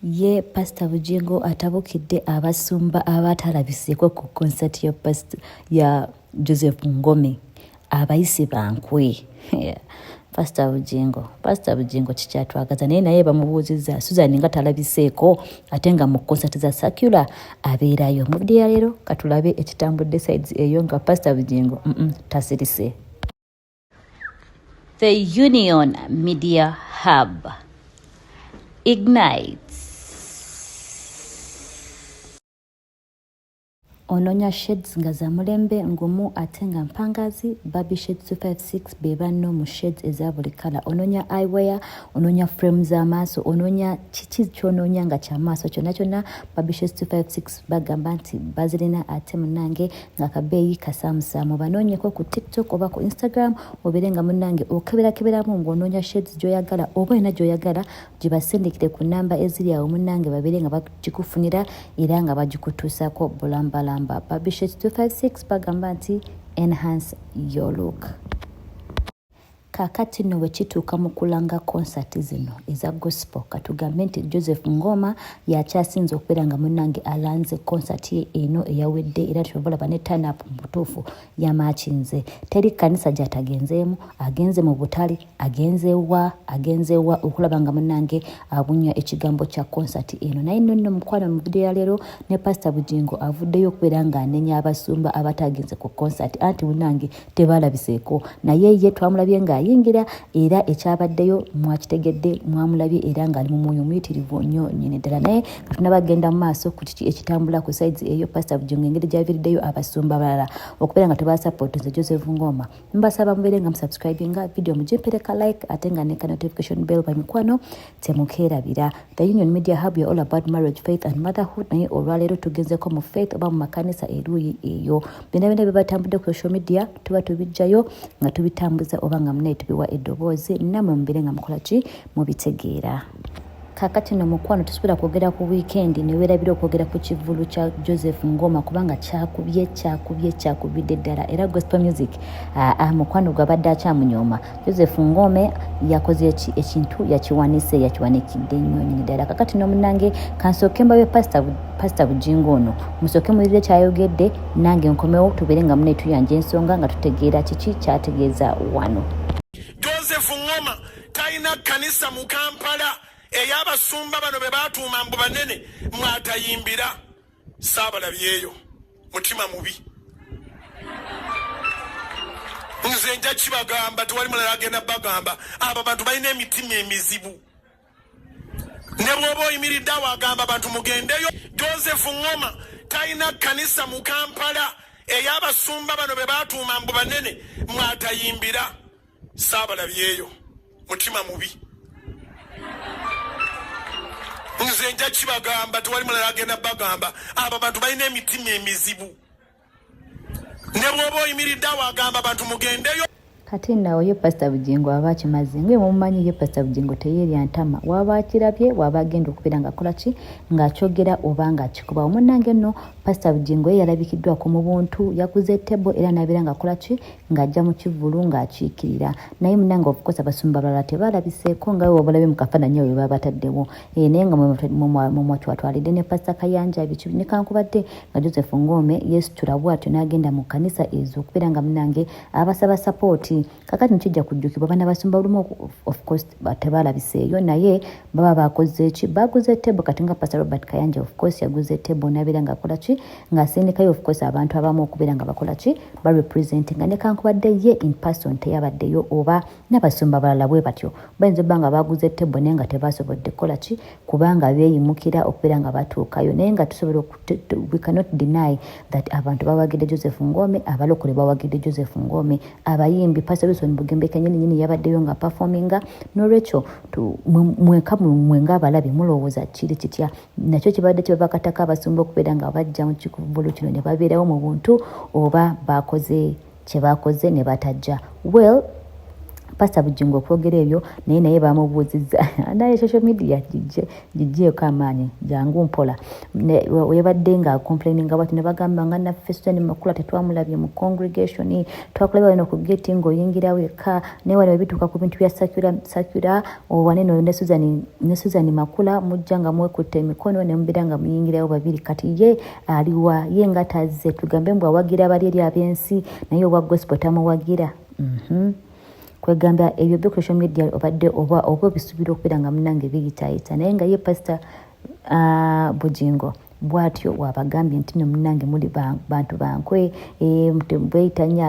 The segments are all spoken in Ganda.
ye pasita bugingo atabukidde abasumba abaatalabiseeko ku konsati ya pasita ya joseph ngome abayise bankwe pasita bugingo pasita bugingo kikyatwagaza naye naye bamubuuzizza susan nga talabiseeko ate nga mu konsati za sakula abeerayo mu video ya leero katulabe ekitambudde sides eyo nga pasita bugingo mm -mm, tasirise The Union Media Hub ignites. Ononya shades nga za mulembe ngumu ate nga mpangazi baby shades 256 be banno mu shades eza buli kala ononya eyewear ononya frame za maaso ononya kiki kyononya nga kya maaso kyonna kyonna baby shades 256 bagamba nti bazirina ate munange akabeeyi kasaamusaamu banoonyeko ku tiktok oba ku instagram obeere nga munnange okeberakeberamu ng'onoonya shades gy'oyagala oba olina gy'oyagala gibasindikire ku namba eziri awo munnange babeere nga bagikufunira era nga bagikutuusako bulambalamba babishet 256 bagamba nti enhance your look Kaakati nno bwe kituuka mu kulanga konsati zino eza gospel, katugambe nti Joseph Ngoma y'akyasinze okubeera nga munnange alanze konsati ye eno eyawedde era kyova olaba ne tanapu mu butuufu yamaakinze. Teri kkanisa gy'atagenzeemu, agenze mu butale, agenze wa, agenze wa okulaba nga munnange abunya ekigambo kya konsati eno. Naye nno nno mukwano mu vidiyo ya leero ne pasita Bugingo avuddeyo okubeera ng'anenya abasumba abataagenze ku konsati anti munnange tebalabiseeko naye ye twamulabye ng'ayingira era ekyabaddeyo mwakitegedde mwamulabye era ng'ali mu mwoyo omuyitirivu nnyo nyini ddala naye katunaba agenda mu maaso ku kiki ekitambula ku saizi eyo pasita bujingo engeri gyaviriddeyo abasumba balala okubeera nga tebasapoti nze joseph ngoma mbasaba mubeere nga musubscribinga vidiyo mugimpereka like ate nga neka notification bell bamikwano temukeerabira the union media hub ya all about marriage faith and motherhood naye olwaleero tugenzeko mu faith oba mu makanisa eruuyi eyo byonna byonna byebatambudde ku social media tuba tubijjayo nga tubitambuza oba nga munaye tubiwa eddoboozi namwe mubire nga mukola ki mubitegeera kakati no mukwano tusobola kwogera ku wiikendi newerabira okwogera ku kivulu kya joseph ngoma kubanga kyakubye kyakubye kyakubidde ddala era gospel music ah, ah, mukwano gwabadde akyamunyooma Joseph Ngome yakoze ki ekintu yakiwanise yakiwanikidde nnyo nyini ddala kakati nomunange kansooke mbabe pasita pasita bujingo ono musooke muwulire kyayogedde nange nkomewo tubeere nga mune tuyanja ensonga nga tutegeera kiki kyategeeza wano joseph ngoma talina kanisa mu kampala ey'abasumba bano be batuuma mbu banene mwatayimbira saabalabyeyo mutima mubi nze nja kibagamba tewali mulala agenda bagamba abo bantu balina emitima emizibu ne bwoba oyimiridde awo agamba abantu mugendeyo joseph ngoma talina kanisa mu kampala ey'abasumba bano be batuuma mbu banene mwatayimbira saabalabyeyo mutima mubi nze nja kibagamba tewali mulala agenda bagamba abo bantu balina emitima emizibu ne bwoba oyimiridde awo agamba bantu mugendeyo kati nawo ye pasita bugingo aba akimaze ngaye mumumanyi ye pasita bugingo teyerya ntama waba akirabye waba agenda okubeera ngakola ki ngaakyogera oba ngaakikuba omunange nno pasita bugingo ye yalabikiddwako mu buntu yakuze tebo era nabeera ngaakola ki ng'ajja mu kivvulu ng'akiikirira naye munange ofukosa basumba balala tebaalabiseeko nga we wabalabe mu kafaananyi oyo baba bataddewo eh, naye nga mumwatwatwalidde ne pasita kayanja biki nekankubadde nga joseph ngome yesitula bwatyo n'agenda mu kkanisa ezo okubeera nga munange abasaba sapooti kakati nikijja kujjukibwa bana basumba lumu ofcourse tebaalabiseeyo naye baba bakoze ki baguze tebo kati nga pasita robert kayanja ofcourse yaguze tebo nabeera ng'akola ki ng'asindikayo of course abantu abamu okubeera nga bakola ki ba represent nga nekankubadde ye in person teyabaddeyo oba n'abasumba balala bwe batyo bayinza obba nga baguze tebbo naye nga tebasobodde kukola ki kubanga beeyimukira okubeera nga batuukayo naye nga tusobola we cannot deny that abantu bawagidde joseph ngome abalokole bawagidde joseph ngome abayimbi pastor wilson bugembe kenyini nyini yabaddeyo nga performinga n'olwekyo mwenka mwe ng'abalabi mulowooza kiri kitya nakyo kibadde kibabakatako abasumba okubeera nga bajja mu kikuvulu kino ne babeerawo mu buntu oba baakoze kye baakoze ne batajja well pasta bujingo okwogera ebyo naye naye bamubuuziza naye social media gijje gijjeeko amaanyi jangu mpola yabadde nga complaininga bati ne bagamba nga naffe sitani makula tetwamulabye mu congregation twakulaba wena ku geti ng'oyingirawo eka naye wano webituuka ku bintu bya sakira Owanene oyo ne Susan, ne Susan Makula mujja nga mwekutte emikono ne mubeera nga muyingirayo babiri. Kati ye aliwa ye nga tazze tugambe mbu awagira abali eri ab'ensi naye owa gospel tamuwagira. Mm -hmm. kwegamba ebyo byo social media obadde oba oba obisubira okubeera nga munange biyitayita naye nga ye pasita uh, ah, bujingo bwatyo wabagambye nti no munange muli bantu bankwe eh, bweyita nnyo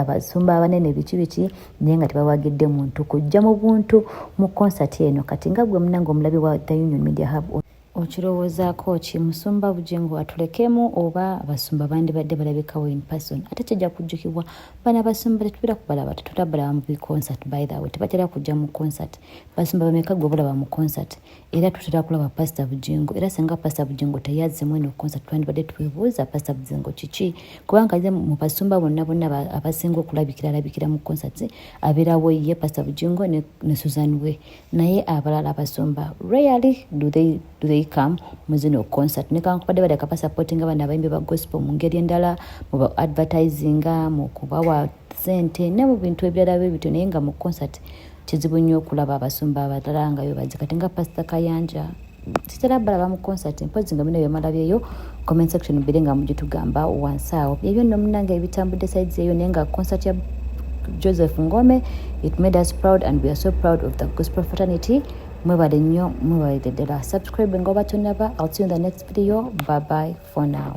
abasumba abanene biki biki naye nga tebawagidde muntu kujja mu buntu mu konsati eno kati nga gwe munange omulabi wa the union media hub okirowoozaako ki musumba bugingo atulekemu oba abasumba bandibadde balabikawo in person ate kijja kujjukibwa bana basumba tetubira kubalaba tetutabalaba mu biconsert by the way tebatera kujja mu concert basumba bameka gwe bulaba mu concert era tutera kulaba pasita bugingo era singa pasita bugingo teyazzemu eno konsa twandibadde twebuuza pasita bugingo kiki kubanga ye mu basumba bonna bonna abasinga okulabikira alabikira mu konsati abeerawo ye pasita bugingo ne susan we naye abalala abasumba rarely do they, do they come mu zino konsati nekankubadde badaka basapotinga bana abayimbi ba gospel mu ngeri endala mu ba advertisinga mu kubawa sente ne mu bintu ebirala bwe bityo naye nga mu concert kizibu nnyo okulaba abasumba abalala nga bebazi kati nga pasita kayanja kitera balaba mu concert mpozi nga bino byemalabyeyo comment section bire nga mugitugamba wansi awo byebyo nno munange ebitambudde sides eyo naye nga concert ya joseph ngome it made us proud and we are so proud of the gospel fraternity mwebale nnyo mwebale ddala subscribe nga obatonaba i'll see you in the next video bye bye for now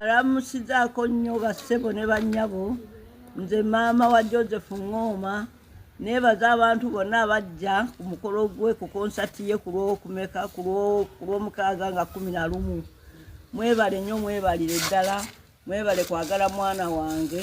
Alamusizaako nnyo bassebo ne bannyabo nze maama wa Joseph Ng'oma neebaza abantu bonna abajja ku mukolo gwe ku konsati ye ku lw'okumeka ku lw'omukaaga nga kumi na lumu mwebale nnyo mwebalire ddala mwebale kwagala mwana wange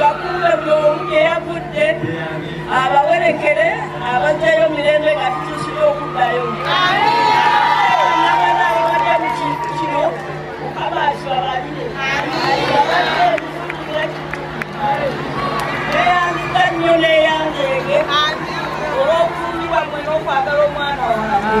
bakumbe buli omu gye yavudde abawerekere abajjayo mirembe nga tutuusibwa okuddayo nabana ababadde mu kintu kino mukama akibabalire abadde ebifuukira neyandiza nnyo neyanzeege olw'okufumbibwa mwe n'okwagala omwana wange